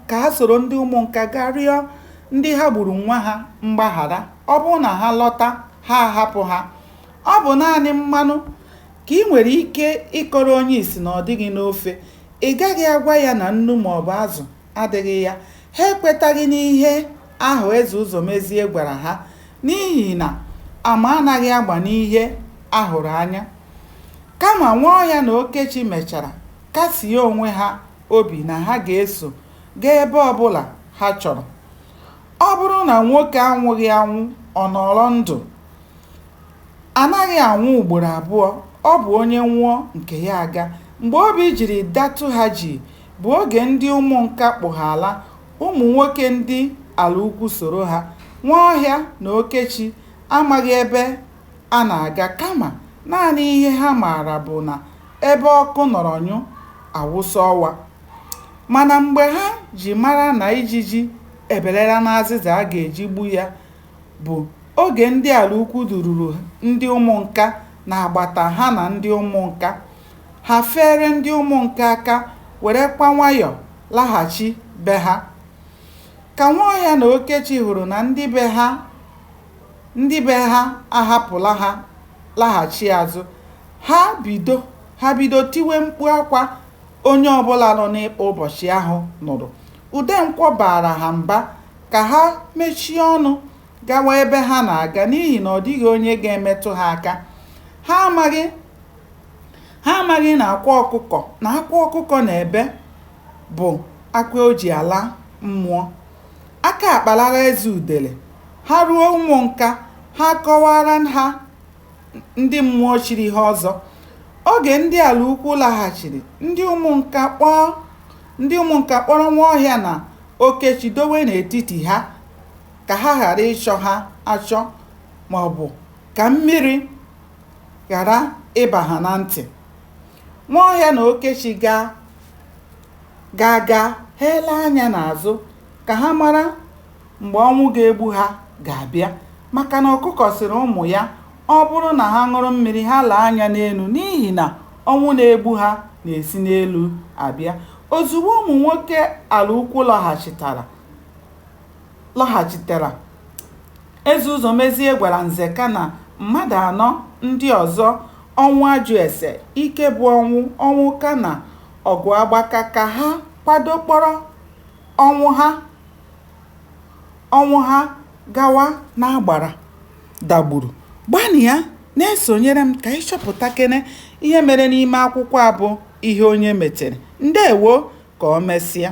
ka ha soro ndị ụmụnka gaa rịọ ndị ha gburu nwa ha mgbaghara ọ bụrụ na ha lọta ha ahapụ ha ọ bụ naanị mmanụ ka i nwere ike ịkọrọ onye isi na ọ dịghị n'ofe ị gaghị agwa ya na nnu ma ọ bụ azụ adịghị ya ha ekwetaghị n'ihe ahụ eze ụzọmezie gwara ha n'ihi na ama anaghị agba n'ihe a hụrụ anya kama nwaọhịa na okechi mechara kasie onwe ha obi na ha ga-eso gaa ebe ọ bụla ha chọrọ. Ọ bụrụ na nwoke anwụghị anwụ, ọ nọrọ ndụ. A naghị anwụ ugboro abụọ, ọ bụ onye nwụọ, nke ya aga. Mgbe obi jiri datụ ha jii bụ oge ndị ụmụnka kpụ ha ala, ụmụ nwoke ndị Alaukwu soro ha. Nwaọhịa na Okechi amaghị ebe a na-aga kama naanị ihe ha maara bụ na ebe ọkụ nọrọ nyụ, a wụsa ọwa. Mana mgbe ha ji mara na ijiji ebelela n'azịza a ga-eji gbu ya bụ oge ndị Alaukwu dururu ndị Ụmụnka n'agbata ha na ndị Ụmụnka. Ha feere ndị Ụmụnka aka werekwa nwayọ laghachi be ha. Ka Nwaọhịa na Okechi hụrụ na ndị be ha ndị be ha ahapụla ha laghachi azụ ha bido ha bido tiwe mkpu akwa onye ọbụla nọ n'ịkpa ụbọchị ahụ nụrụ Udenkwọ baara ha mba ka ha mechie ọnụ gawa ebe ha na-aga n'ihi na ọ dịghị onye ga-emetụ ha aka ha amaghị ha amaghị na akwa ọkụkọ na akwa ọkụkọ na-ebe bụ akwa o ji ala mmụọ Aka akpalara Eze Udele. Ha ruo Ụmụnka, ha akọwaara ha ndị mmụọ chiri ha ọzọ. Oge ndị Alaukwu laghachiri, ndị Ụmụnka kpọọ ndị Ụmụnka kpọrọ Nwaọhịa na Okechi dowe n'etiti ha ka ha ghara ịchọ ha achọ ma ọ bụ ka mmiri ghara ịba ha na ntị. Nwaọhịa na Okechi gaa. gaa gaa ha elee anya n'azụ ka ha mara mgbe ọnwụ ga-egbu ha ga-abịa maka na ọkụkọ sịrị ụmụ ya ọ bụrụ na ha ṅụrụ mmiri ha lee anya n'elu n'ihi na ọnwụ na-egbu ha na-esi n'elu abịa ozugbo ụmụ nwoke alaukwu lọghachitara lọghachitara eze ụzọmezie gwara nzeka na mmadụ anọ ndị ọzọ ọnwụajụese ikebụọnwụ ọnwụka na Ọgụagbaka ka ha kwado kpọrọ Ọnwụha Ọnwụha gawa n'agbara dagburu. Gbanịa na-esonyere m ka anyị chọpụtakene ihe mere n'ime akwụkwọ a bụ Ihe Onye Metere. Ndewo! Ka o mesịa.